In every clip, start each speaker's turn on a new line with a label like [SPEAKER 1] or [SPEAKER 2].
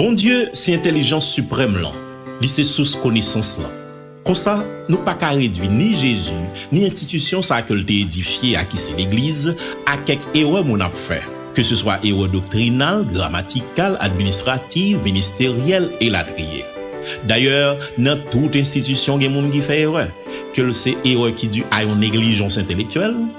[SPEAKER 1] Bondye se entèlijans siprèm lan, li se sous konesans lan. Konsa, nou pa ka redui ni Jezi, ni enstitisyon sa ke l te edifye a ki se Legliz, a kèk erè moun ap fè, keseswa erè doktrinal, gramatikal, administrativ, ministeryèl, elatriye. Dayè, nan tout enstitisyon gen moun ki fè erè, ke l se erè ki di a yon neglijans entelektyèl,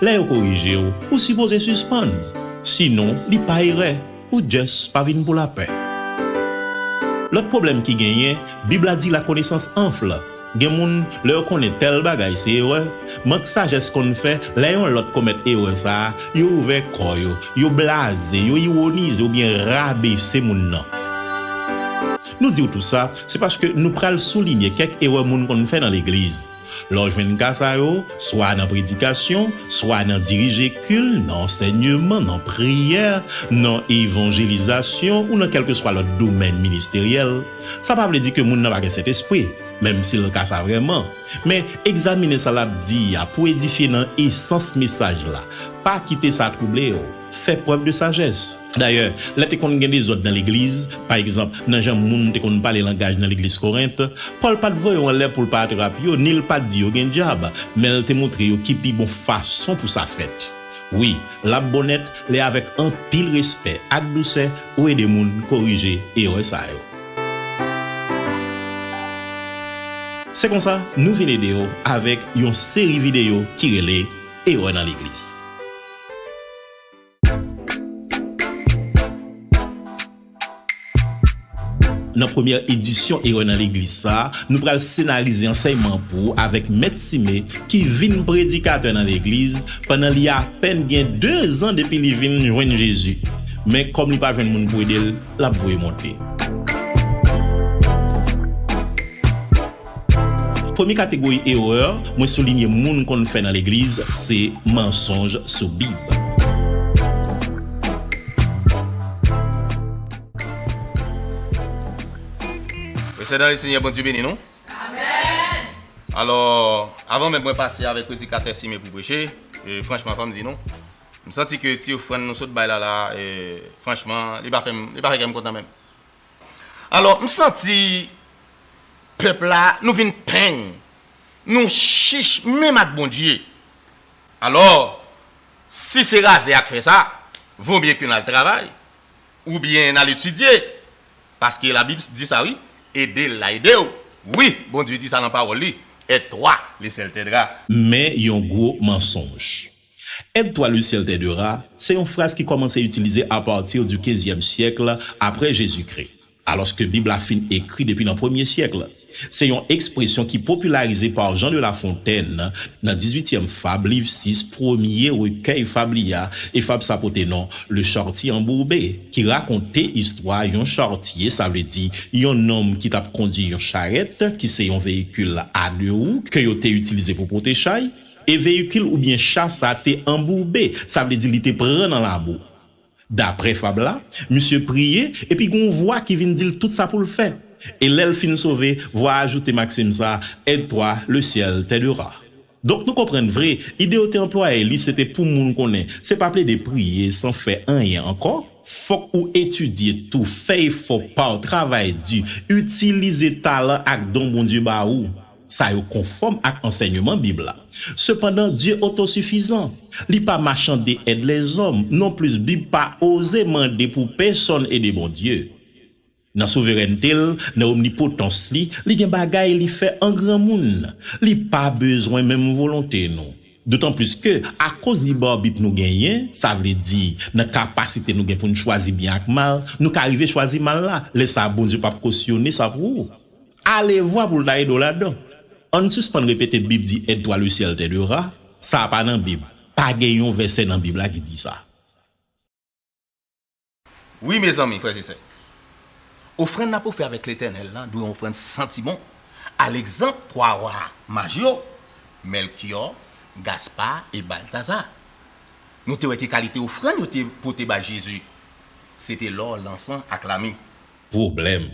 [SPEAKER 1] Lè yo korije w, ou sipoze sispann, sinon li pa erè, ou just pa vin pou lapè. Lòt pwoblèm ki genyen, Bib la di lakonesans anfle. Gen moun, lè yo konnen tèl bagay se erè, mank sajès konn fè, lè yon lòt komèt erè sa a, yo ouvè kò yo, yo blaze, yo iwonize oubyen rabese moun nan. Nou di w tou sa, se paske nou pral soulinye kèk erè moun konn fè nan legliz. Lè w jwenn ka sa yo, swa nan predikasyon, swa nan dirije kil, nan ansènyeman, nan priyè, nan evanjelizasyon ou nan kèlkeswa lòt domèn ministeryèl, sa pa vle di ke moun nan pa gen Sentespri, menm si l ka sa vrèman. Men, egzamine sa l ap di a pou edifye nan esans mesaj la. Pa kite sa twouble w. Fè prèv de sajès. Dayè, lè te konn gen dezòd nan legliz, pa egzanp, nan jan moun te konn pale langaj nan legliz Korent, Pòl pa t voye yo anlè pou l pa atrap yo, ni l pa t di yo gen dyab, men l te montre yo ki pi bon fason pou sa fèt. Wi, l ap bon nèt lè avèk anpil respè ak dousè ou ede moun korije erè sa yo. Se konsa, nou vin ede yo avèk yon seri videyo ki rele Erè nan legliz. Nan premyè edisyon Erè nan Legliz sa, nou pral senarize ansèyman pou ou avèk Mèt Sime ki vin predikatè nan legliz pandan li apèn gen dezan depi li vin jwenn Jezi. Men kòm li pa jwenn moun pou ede l, l ap voye monte. Premye kategori erè mwen soulinye moun konn fè nan legliz se mansonj sou Bib.
[SPEAKER 2] Mes sè dan le Senyè Bondye beni nou. Amen! Alò, avan menm mwen pase avèk predikatè Sime pou preche, franchman fòm di nou, m santi ke ti ofrann nou sot bay la la, franchman li pa fè kè m kontan menm. Alò m santi pèp la nou vin peng, nou chich menm ak Bondye. Alò si se raze ak fè sa, vo mye ke n al travay oubyen n al etidye paske labib di sa wi, ede l la ede w. Wi Bondye di sa nan pawòl li, Aide-toi, le ciel t'aidera. Men yon gwo
[SPEAKER 1] mansonj. Aide toi le ciel t'aidera se yon fraz ki kòmanse itilize a partir du xvyèm syèkl aprè Jezikri, alòske Bib la fin ekri depi nan premye syèkl. Se yon ekspresyon ki popilarize par Jean de la Fontaine nan dizwityèm fab liv 6 premye rekèy fab li a, e fab sa pote non Le charretier embourbé, ki rakonte istwa yon chartye, sa vle di yon nonm ki t'ap kondui yon charèt, ki se yon veyikil a de wou ke yo te itilize pou pote chay. E veyikil oubyen cha sa te anboube, sa vle di li te pran nan labou. Daprè fab la, misye priye epi gen yon vwa ki vin di l tout sa pou l fè. E lè l fin sove, vwa a ajoute maksim sa, Aide-toi, le ciel t'aidera. Donk nou konprann vre, ide yo te anplwaye li se te pou moun konnen se pa plede priye san fè anyen ankò, fòk ou etidye tou, fè efò pa w, travay di, itilize talan ak don Bondye ba ou. Sa yo konfòm ak ansèyman Bib la. Sepandan, Dye otosifizan. Li pa machande èd lèzòm. Nonplis, Bib pa oze mande pou pèsonn ede Bondye. Nan souverènte l, nan omnipotans li, li gen bagay li fè an granmoun. Li pa bezwen menm volonte nou. Dotanplis ke, akoz lib arbit nou genyen, sa vle di, nan kapasite nou gen pou n chwazi byen ak mal, nou ka rive chwazi mal la. Lè sa a, Bondye pap kosyone sa pou ou. Alevwa pou l ta ede w ladan. Ann sispann repete Bib di Aide-toi le ciel t'aidera, sa pa nan Bib. Pa gen yon vèsè nan Bib la ki di sa.
[SPEAKER 2] Wi, mezanmi, frè e sè, ofrann n ap ofri avèk Letènèl la dwe yon ofrann santi bon, alegzanp twa wa maj yo, Mèlkyò, Gaspa e Baltaza. Nou te wè ki kalite ofrann yo te pote bay Jezi. Se te lò, lansan ak lami. Pwoblèm,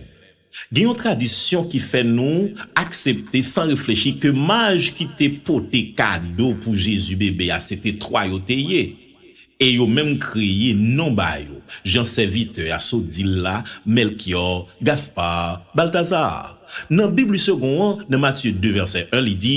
[SPEAKER 1] Gen yon tradisyon ki fè nou aksepte san reflechi ke maj ki te pote kado pou Jezi bebe a se te twa yo te ye, e yo menm kreye non ba yo, jan sèvitè a sot di l la, Mèlkyò, Gaspar, Baltazar. Nan Bib li segon an, nan Matye 2 vèsè 1, li di,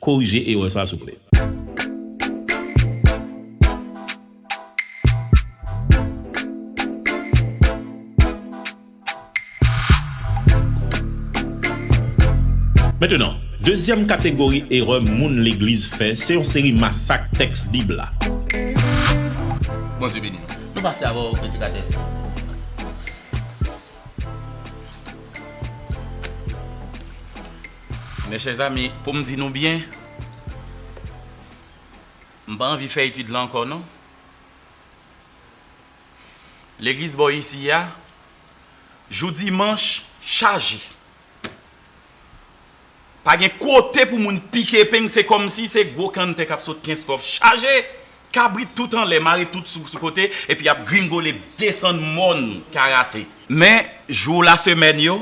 [SPEAKER 1] Korije erè sa souple. Mentenan, dezyèm kategori erè moun legliz fè se yon seri masak tèks Bib la.
[SPEAKER 2] Bondye beni nou. Nou pase avè w predikatè sa. Mes chers amis, pou m di nou byen, m pa anvi fè etid lan ankò non. Legliz bò isi a, jou dimanch chaje. Pa gen kote pou moun pike epeng, se kòmsi se gwo kanntè k ap sot Kenskòf chaje, kabrit tout anlè, mare tout sou kote, epi y ap gringole desann mòn Karate. Men, jou lasemèn yo,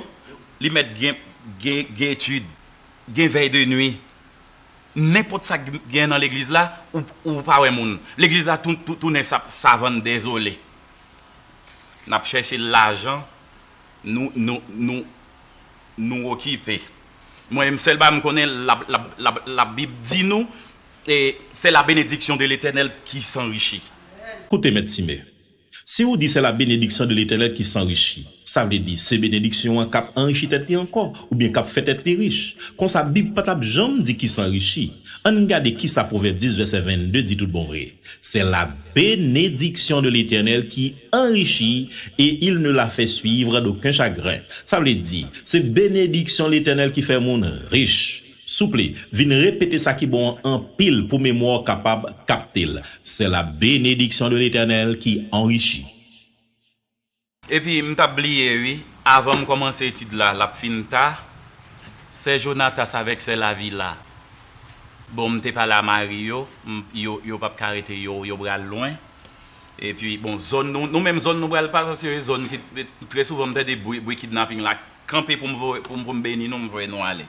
[SPEAKER 2] Li mèt gen gen etid, gen vèy de nwi. Nenpòt sa k gen nan legliz la, ou ou pa wè moun. Legliz la tou tou tounen sa savann dezole. N ap chèche lajan nou nou nou nou okipe. Mwen menm sèl bagay m konnen la la la labib di nou e se la benediksyon de letènèl ki sanrichi. Koute Mèt
[SPEAKER 1] Time, Si ou di se la benediksyon de Letènèl ki sanrichi, sa vle di se benediksyon an k'ap anrichi tèt li ankò oubyen k'ap fè tèt li rich. Konsa Bib pa t'ap janm di ki sanrichi. Ann gade ki sa Pwovèb 10 vèsè 22 di tout bon vre, Se la benediksyon de Letènèl ki anrichi e il ne la fè suivre d'oken chagren. Sa vle di, se benediksyon Letènèl ki fè moun rich. Souple, vin repete sa ki bon an anpil pou memwa w kapab kapte l. Se la benediksyon de Letènèl ki anrichi.
[SPEAKER 2] Epi m tap bliye ui avanm komanse etid la lap fin ta sè jonatas avèk sè lavila bon m te pale a mari yo m yo yo pap ka rete yo yo pral lwen epi bon zòn nou nou menm zòn nou pral pa se yo zòn ki trè souvan m tande bri bri kidnaping la kanpe poum voye poum poum beni nou m voye nou ale.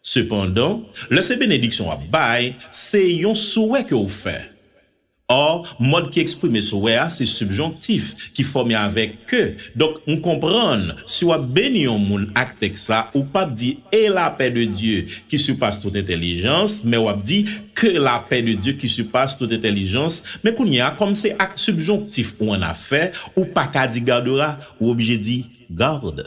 [SPEAKER 1] Sepandan, lè se benediksyon w ap bay, se yon souwè ke w fè. Ò, mòd ki eksprime souwè a se sibjonktif ki fòme avèk ke, donk m konprann si w ap beni yon moun ak tèks la, ou p ap di E lapè de Dye, ki sipas tout entèlijans, men w ap di Ke lapè de Dye ki sipas tout entèlijans. Men kounye a, kòm se ak sibjonktif ou annafè, ou pa ka di gardera, ou oblije di garde.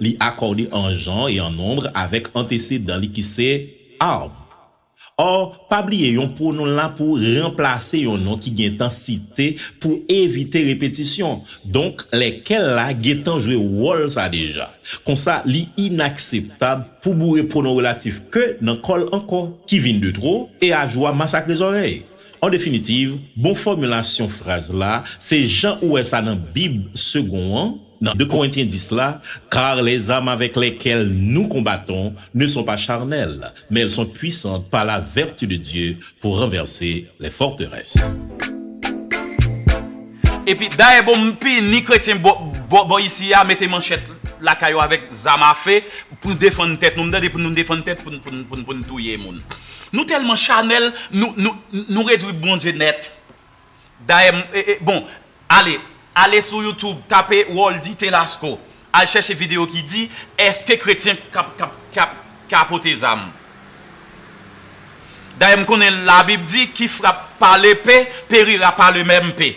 [SPEAKER 1] Li akòde an jan e an nonb avèk antesedan li ki se, arb. Or, pa bliye yon pwonon la pou ranplase yon non ki gen tan site pou evite repetisyon. Donk, lè kè l la gen tan jwe wòl sa deja. Konsa, li inakseptab pou boure pwonon relatif ke nan kò l ankò, ki vin de two e a jwa masakre zòrèy. An definitiv, bon fòmilasyon fraz la, se jan ou wè sa nan bib segond an, Nan 2 Korentyen 10 la, Kar les zam avèk lèkèl nou konbaton ne son pa charnèl, men èl son pwisant pa la vèti de Dye pou ranvèse lè fòterès.
[SPEAKER 3] Epi dayè bon pi ni kretyen bò bò isi a mete manchèt lakay yo avèk zam afe pou defann tèt nou m tande pou nou defann tèt pou n pou n touye moun nou tèlman chanèl nou nou nou redwi Bondye nèt. Dayè m e e bon ale ale sou YouTube tape Roldy Telasco al chèche video ki di eske kretyen kap kap kap ka pote zam. Dayè m konnen labib di ki frap pa lepe perira pa le mèm pe.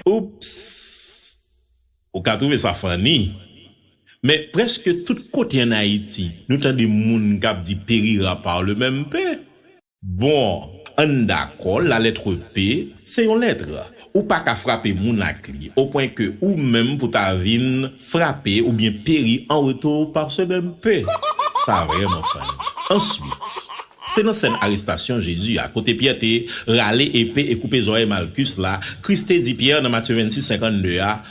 [SPEAKER 1] Oupss! Ou ka trouve sa funny, men preske tout kote an Ayiti nou tande moun kap di perira pa le mèm pe. Bon, an n dakò, lalètre P, se yon lètre. Ou pa ka frape moun ak li, opwen ke ou menm pou ta vi n frape oubyen peri an retou par ce meme P. Sa vrèman funny. Answit, se nan sèn arestasyon Jezi a, kote Pyè te rale epe e koupe zòrèy Malkus la, Kris te di Pyè nan Matye 26, 52 a,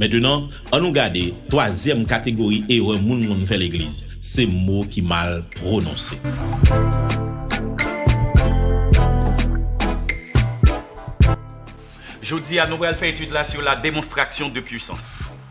[SPEAKER 1] Mentenan, annou gade twazyèm kategori erè moun konn fè legliz, se mo ki mal pwononse.
[SPEAKER 3] Jodi a, nou pral fè etid la sou la demonstraksyon de pwisans.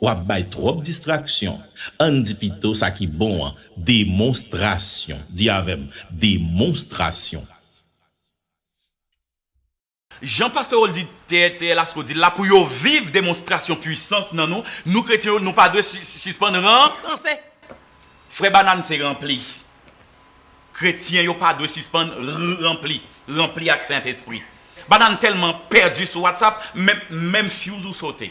[SPEAKER 1] Wap bay twòp distraksyon. Ann di pito sa ki bon an, demonstrasyon. Di avè m, demonstrasyon.
[SPEAKER 3] Jan Pastè Roldy T. L. Askew di l la, pou yo viv demonstrasyon puisans nan nou, nou kretyen yo, nou pa dwe sispann ranse. Frè Banane se ranpli. Kretyen yo pa dwe sispann ranpli. Ranpli ak Sentespri. Banane tèlman pèdi sou WhatsApp, menm fuse ou sote.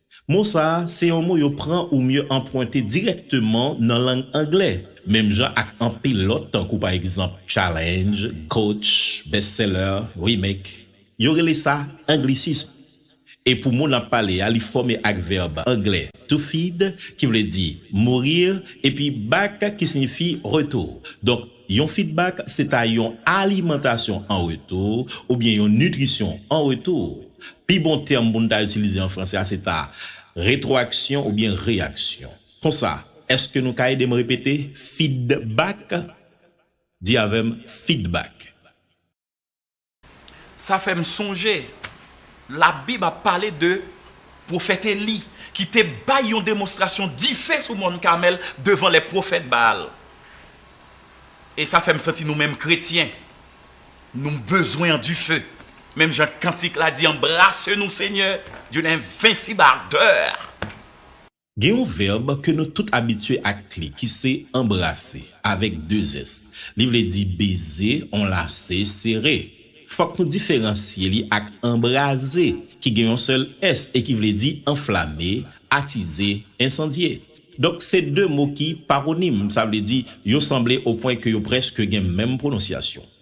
[SPEAKER 1] Mo sa a se yon mo yo pran oubyen anpwente dirèkteman nan lang angle, menm jan ak anpil lòt tankou pa egzanp challenge, coach, best seller, remake. Yo rele sa anglisism. E pou mo n ap pale a, li fòme ak vèb angle to feed ki vle di mourir epi back ki siyifi retour. Donk Yon fidbak se ta yon alimantasyon an retou oubyen yon nitrisyon an retou. Pi bon tèm pou n ta itilize an franse a se ta retwoaksyon oubyen reyaksyon. Konsa, èske nou ka ede m repete fidbak? Di avè m, fidbak.
[SPEAKER 3] Sa fè m sonje Labib ap pale de pwofèt Eli ki te bay yon demonstrasyon dife sou Mòn Kamèl devan lè pwofèt Baal. E sa fè m santi nou menm kretyen, nou bezwen an dife. Menm jan kantik la di, Embrase nou, Senyè, d'une envincible ardeur.
[SPEAKER 1] Gen yon vèb ke nou tout abitye ak li ki se anbrase, avèk 2 s. Li vle di beze, anlase, sere. Fòk nou diferansye li ak anbraze ki gen yon sèl s e ki vle di anflame, atize, ensandye. Donk se 2 mo ki paronim, sa vle di yo sanble o pwen ke yo prèske gen menm pwononsyasyon.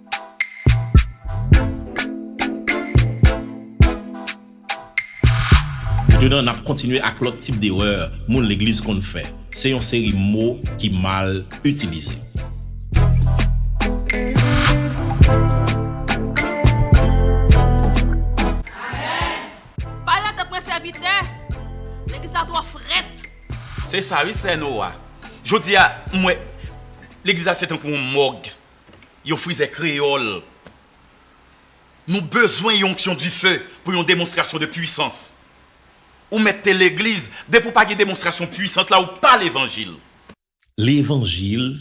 [SPEAKER 1] Metenan, n ap kontinye ak lòt tip derè moun legliz konn fè. Se yon seri mo ki mal itilize.
[SPEAKER 4] Pale de mwen sèvitè! Legliz la twò frèt! Se sa wi
[SPEAKER 3] sè Noa. Jodi a, m wè legliz la se tankou yon mòg. Yon frizè kreyòl. Nou bezwen yon onksyon dife pou yon demonstrasyon de pwisans. Ou mèt te legliz, depi ou pa gen demonstrasyon pwisans la, ou pa levanjil. Levanjil,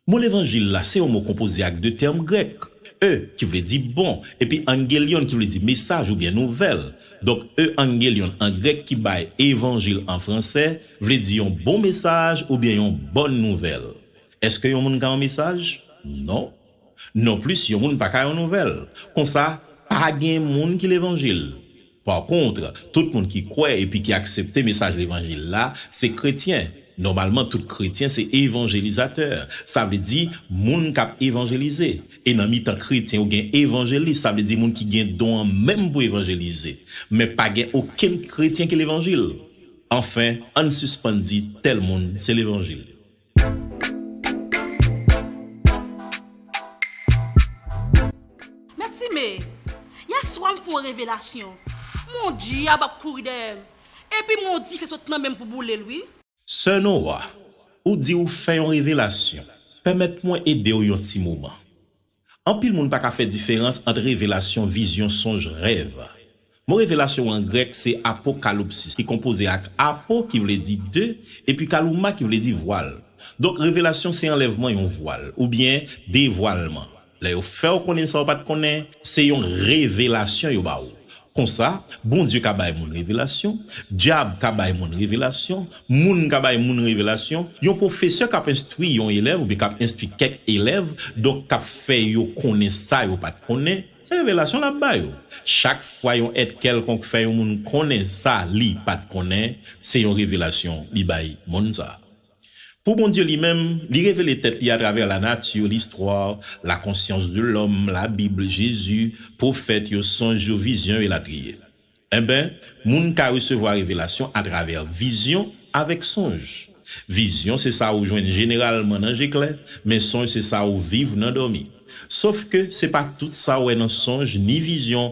[SPEAKER 1] Mo levanjil la se yon mo konpoze ak de tèm grèk, e, ki vle di bon, epi angelion ki vle di mesaj oubyen nouvèl. Donk e angelion an grèk ki bay evanjil an fransè vle di yon bon mesaj oubyen yon bòn nouvèl. Èske yon moun ka yon mesaj? Non. Non plis yon moun pa ka yon nouvèl. Konsa, pa gen moun ki levanjil. Pakontre, tout moun ki kwè epi ki aksepte mesaj levanjil la, se kretyen. Nòmalman tout kretyen se evanjelizatè. Sa vle di, moun k ap evanjelize. E nan mitan kretyen yo gen evanjelis, sa vle di moun ki gen don an menm pou evanjelize. Men pa gen okenn kretyen ki levanjil. Anfen, ann sispann di tèl moun se levanjil.
[SPEAKER 5] Men ti me, yè swa m fè yon revelasyon, mon dyab ap kouri dèyè m, epi m wè yon dife sot nan men m pou boule l wi. Sè Nora,
[SPEAKER 1] ou di ou fè yon revelasyon, pèmèt mwen ede w yon ti moman. Anpil moun pa ka fè diferans ant revelasyon, vizyon, sonj, rèv. Mo revelasyon an grèk se apokalupsis ki konpoze ak apo ki vle di de epi kalouma ki vle di vwal. Donk revelasyon se anlèvman yon vwal oubyen devwalman. Lè yo fè w konnen sa w pa t konnen, se yon revelasyon yo ba w. Konsa, Bondye ka bay moun revelasyon, dyab ka bay moun revelasyon, moun ka bay moun revelasyon, yon pwofesè k ap enstwi yon elèv oubyen k ap enstwi kèk elèv, donk k ap fè yo konnen sa yo pa t konnen, se revelasyon l ap ba yo. Chak fwa yon èt kèlkonk fè yon moun konnen sa li pa t konnen, se yon revelasyon li bay moun sa a. Pou Bondye li menm, li revele tèt li atravè lanati, listwa, la konsyans de lòm, la Bib, Jezi, pwofèt yo, sonj yo, vizyon yo, elatriye. Enben, moun ka resevwa revelasyon atravè vizyon avèk sonj. Vizyon se sa ou jwenn jeneralman nan je klè, men sonj se sa ou viv nan dòmi. Sofke, se pa tout sa ou wè nan sonj ni vizyon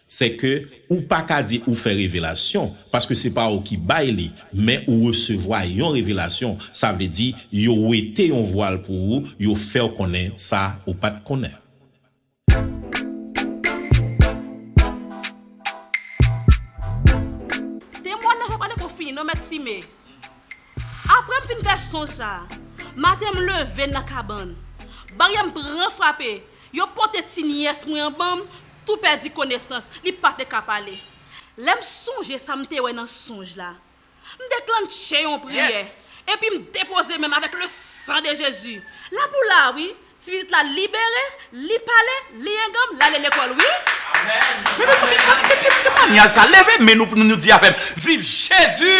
[SPEAKER 1] Sè ke ou pa ka di ou fè revelasyon, paske se pa ou ki bay li, men ou resevwa yon revelasyon, sa vle di yo wete yon vwal pou ou, yo fè ou konnen sa ou pa t konnen.
[SPEAKER 5] Temwanyaj la pa te ko fini non mèt Sime. Aprè m fin fè sonj sa a, maten m leve nan kabann, baryè m pran frape. Yo pote ti niyès mwen an ban m tou pèdi konesans, li pa te ka pale. Lè m sonje sa m te wè nan sonj la, m deklannche yon priyè, epi m depoze men m avèk le san de Jezi. La pou la a wi, ti pitit la libere, li pale, li enganm, l ale lekòl wi. Amen!
[SPEAKER 3] Mezanmi, ki mannyaj sa? Leve men nou pou nou di avè m. Viv jezi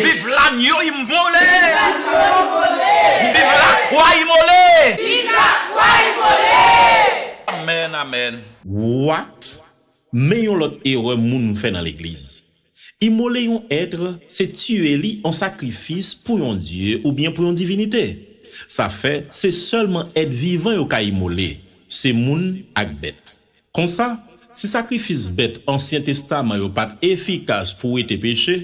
[SPEAKER 3] viv lanyo imole viv lakwa imole
[SPEAKER 4] amen
[SPEAKER 3] amen. What?
[SPEAKER 1] Men yon lòt erè moun fè nan legliz. Imole yon ètre se tiye li an sakrifis pou yon dye oubyen pou yon divinite. Sa fè se sèlman èt vivan yo ka imole, se moun ak bèt. Konsa, si sakrifis bèt Ansyen Testaman yo pa t efikas pou wete peche,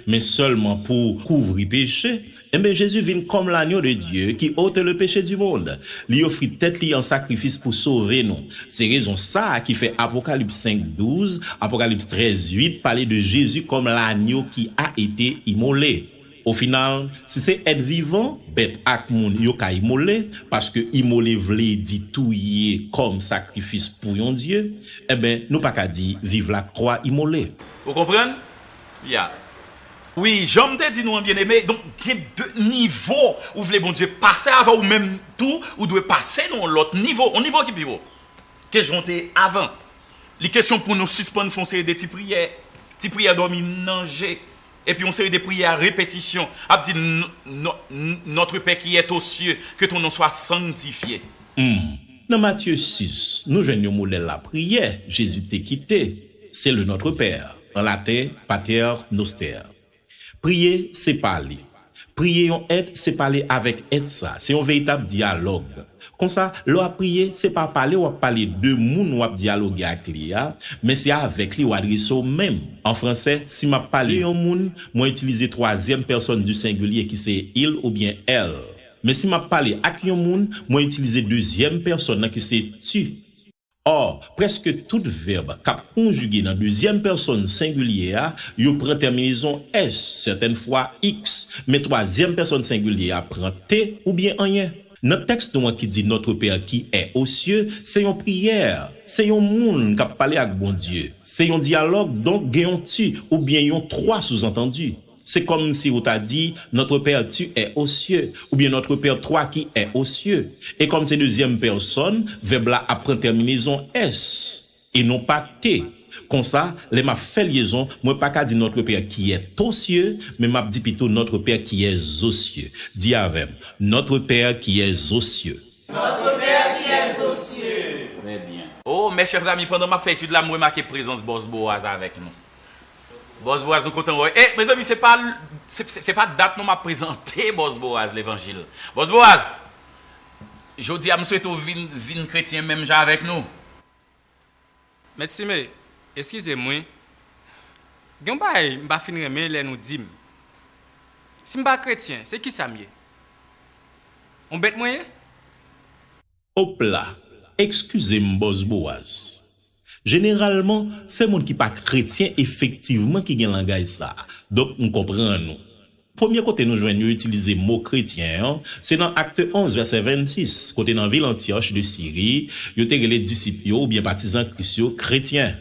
[SPEAKER 1] men sèlman pou kouvri peche, enben Jezi vin kòm Lagno de Dye ki ote le peche di mond. Li ofri tèt li an sakrifis pou sove nou. Se rezon sa a ki fè Apokalips 5, 12, Apokalips 13, 8 pale de Jezi kòm Lagno ki a ete imole. Ofinal, si se èt vivan, bèt ak moun yo ka imole, paske imole vle di touye kòm sakrifis pou yon dye, enben nou pa ka di viv lakwa imole. Ou konprann?
[SPEAKER 3] Ya. Wi, jan m te di nou an byeneme, donk gen de nivo ou vle Bondye pase avè w ou menm tou ou dwe pase nan yon lòt nivo, yon nivo ki pi wo ke jan w te ye avan. Li kesyon pou nou sispann fè yon seri de ti priyè, ti priyè dòmi nan je. Epi yon seri de priyè a repetisyon ap di Notre Pè ki è to sye, ke ton non swa sangtifye. Humm.
[SPEAKER 1] Nan Matye 6, nou jwenn yon modèl lapriyè Jezi te kite, se le Notre Père, an laten Pater Noster. Priye se pale, Priye yon èt se pale avèk èt sa, se yon veritab dyalòg. Konsa, lè w ap priye, se pa pale w ap pale de moun w ap dyaloge ak li a, men se avèk li w adrese w menm. An franse, si m ap pale de yon moun, mwen itilize twazyèm pèsòn di sengilye ki se il oubyen elle. Men si m ap pale ak yon moun, mwen itilize dezyèm pèsòn nan ki se tu. Or, prèske tout vèb k ap konjige nan dezyèm pèsòn sengilye a, yo pran tèminezon s, sètèn fwa ix, men twazyèm pèsòn sengilye a pran t oubyen anyen. Nan tèks nou an ki di Notre Père qui est aux cieux, se yon priyè, se yon moun k ap pale ak Bondye, se yon dyalòg donk gen yon tu oubyen yon twa souzantandi. Se kòm si ou ta di, Notre Père tu es aux cieux, oubyen Notre Père toi qui es aux cieux. E kòm se dezyèm pèsòn, vèb la ap pran tèminezon es, e non pa te. Konsa, lè m ap fè lyezon, mwen pa ka di Notre Père qui est aux cieux, men m ap di pito Notre Père qui est aux cieux. Di avè m, Notre Père qui est aux cieux. Notre Père
[SPEAKER 4] qui est aux cieux. Trè byen.
[SPEAKER 3] Oh, mes chers amis, pandan m ap fè etid la, m remake prezans Bòs Boaz avèk nou. Bòs Boaz nou kontan wè e mezanmi se pa se pa dat non map prezante Bòs Boaz levanjil Bòs Boaz jodia m swete w vin vin kretyen menm jan avèk nou.
[SPEAKER 6] Mètsi me eskize m wi gen yon bagay m pa fin renmen lè nou di m si m pa kretyen se kisa m ye yon bèt mwen ye?
[SPEAKER 1] Op la! Ekskize m Bòs Bowaz. Jeneralman, se moun ki pa kretyen efektivman ki gen langaj sa a, donk m konprann ou. Premye kote nou jwenn yo itilize mo kretyen an, se nan Acte 11 vèsè 26, kote nan vil Antyòch de Siri, yo te rele disip yo oubyen patizan Kris yo kretyen.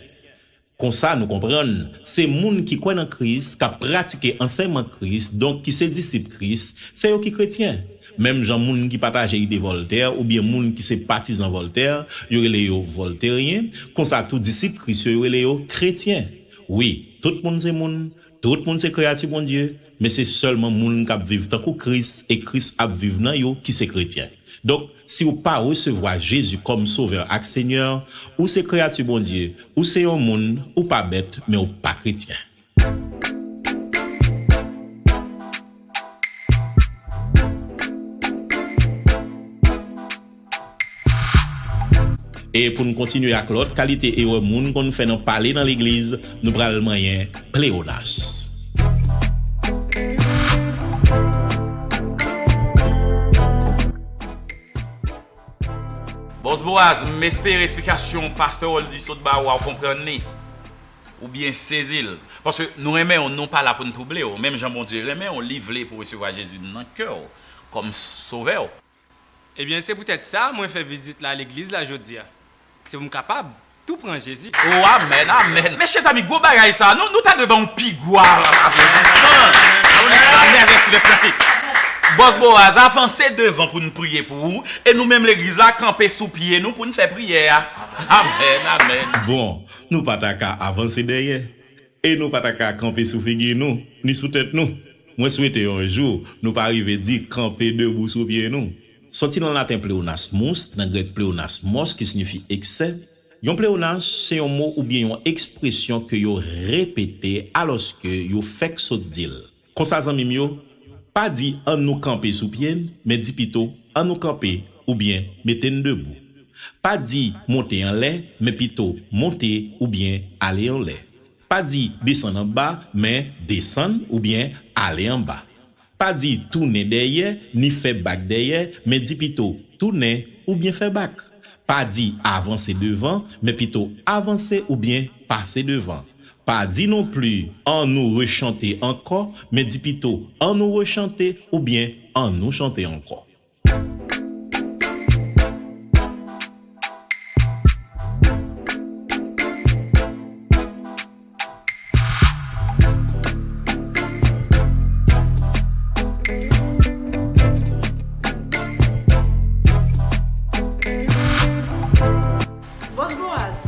[SPEAKER 1] Konsa nou konprann, se moun ki kwè nan Kris, k ap pratike ansèyman Kris, donk ki se disip Kris, se yo ki kretyen. Menm jan moun ki pataje ide Vòltè oubyen moun ki se patizan Vòltè, yo rele yo vòlteryen, konsa tou disip Kris yo, yo rele yo kretyen. Wi, tout moun se moun. Tout moun se kreyati Bondye, men se sèlman moun k ap viv tankou Kris e Kris ap viv nan yo ki se kretyen. Donk, si w pa resevwa Jezi kòm Sovè ak Senyè, ou se kreyati Bondye, ou se yon moun, ou pa bèt, men ou pa kretyen. E pou n kontinye ak lòt kalite erè moun konn fè nan pale nan legliz, nou pral manyen pleonas.
[SPEAKER 3] Bòs Boaz, m espere eksplikasyon pastè Roldy sot ba ou a ou konprann li, ou byen sezi l. Paske nou renmen ou, nou pa la pou n twouble ou. Menm jan Bondye renmen ou, li vle pou resevwa Jezi nan kè ou kòm Sovè ou. Ebyen,
[SPEAKER 6] se poutèt sa mwen fè vizit la legliz la jodia. Se pou m kapab tou pran Jezi. Oh amen amen
[SPEAKER 3] mes chè ami gwo bagay sa nou ta dwe banw pi gwo aplodisman amen mèsi mèsi mèsi bòs boaz avanse devan poun priye pou ou e nou menm legliz la kanpe sou pye nou poun fè priyè a amen amen. Bon nou pa
[SPEAKER 1] ta ka avanse dèyè. E nou pa ta ka kanpe sou figi nou, ni sou tèt nou. Mwen swete yon jou nou pa rive di kanpe debou sou pye nou. Soti nan laten pleonas mous, nan grèk pleonas mos ki sinifi eksè, yon pleonas se yon mo oubyen yon ekspresyon ke yo repete alòske yo fèk sot di l. Konsa zanmi m yo, pa di An nou kanpe sou pye n, men di pito An nou kanpe oubyen mete n debou. Pa di Monte anlè, men pito Monte oubyen ale anlè. Pa di Desann anba, men Desann oubyen ale anba. Pa di Tounen dèyè, ni fè bak dèyè, men di pito Tounen oubyen fè bak. Pa di avanse devan, men pito avanse oubyen pase devan. Pa di non pli an nou rechante ankò, men di pito an nou rechante oubyen an nou chante ankò.
[SPEAKER 5] Boss Boaz,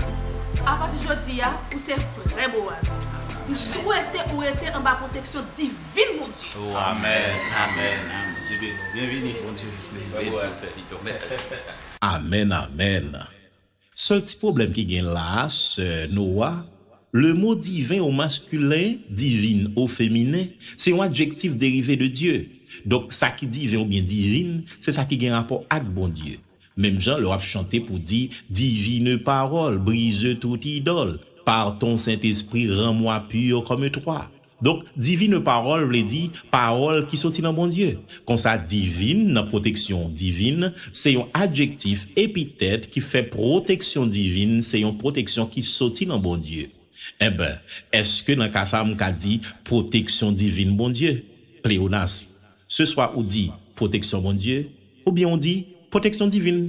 [SPEAKER 5] apati jodi a, ou se frè Boaz. M swete ou rete anba pwoteksyon divin Bondye. Oh amen
[SPEAKER 3] amen Bondye beni ou byenvini
[SPEAKER 2] Bondye beniw sèvitè.
[SPEAKER 1] Amen amen Sèl ti pwoblèm ki gen la a, sè Noa, lemo diven o maskilen, divin o feminen, se yon adjektif derive de Dye. Donk, sa ki diven oubyen divin, se sa ki gen rapò ak Bondye. Menm jan lè w ap chante pou di, Divine parole, brise toute idole, Par ton Saint-Esprit, rends-moi pur comme toi. Donk, divine parole vle di pawòl ki soti nan Bondye. Konsa, divine, nan pwoteksyon divin, se yon adjektif, epitèt, ki fè pwoteksyon divin se yon pwoteksyon ki soti nan Bondye. Enben, èske nan ka sa a m ka di pwoteksyon divin Bondye? Pleonasm. Se swa ou di pwoteksyon Bondye, Ou byen ou di, Pwoteksyon divin.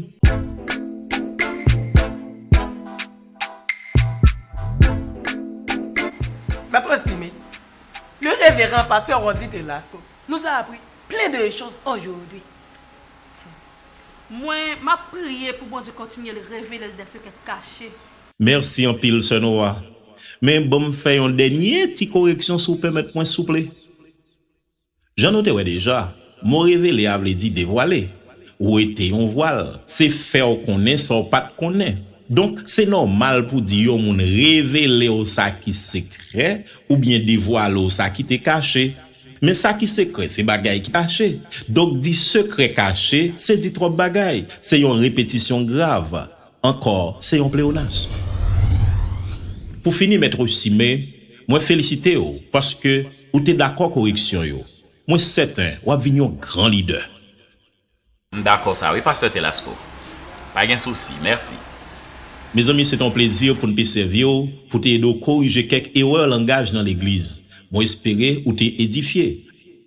[SPEAKER 4] Mèt Rosimy, Le Reverend Pasteur Rondy Telasco nous a appris plein de choses aujourd'hui.
[SPEAKER 5] Mwen, map priye pou Bondye kontinye l revele l dè sekrè kache. Mèsi
[SPEAKER 1] anpil sè Noa. Men banm fè yon dènye ti koreksyon si w pèmèt mwen souple. Jan nou te wè deja, mo revele a vle di devwale. Wete yon vwal, se fè w konnen sa w pa t konnen. Donk, se nòmal pou di yon moun revele w sa ki sekrè oubyen devwale w sa ki te kache. Men sa ki sekrè se bagay ki kache. Donk di sekrè kache, se di twòp bagay, se yon repetisyon grav. Ankò, se yon pleonasm. Pou fini, Mèt Osime, mwen felisite ou paske ou te dakò koreksyon yo. Mwen sèten w ap vin yon gran lidè. M
[SPEAKER 3] dakò sa wi pastè Telasco. Pa gen sousi. Mèsi. Mezanmi,
[SPEAKER 1] se te yon plezi pou n te sèvi w, pou te ede w korije kèk erè langaj nan legliz. Mwen espere ou te edifye.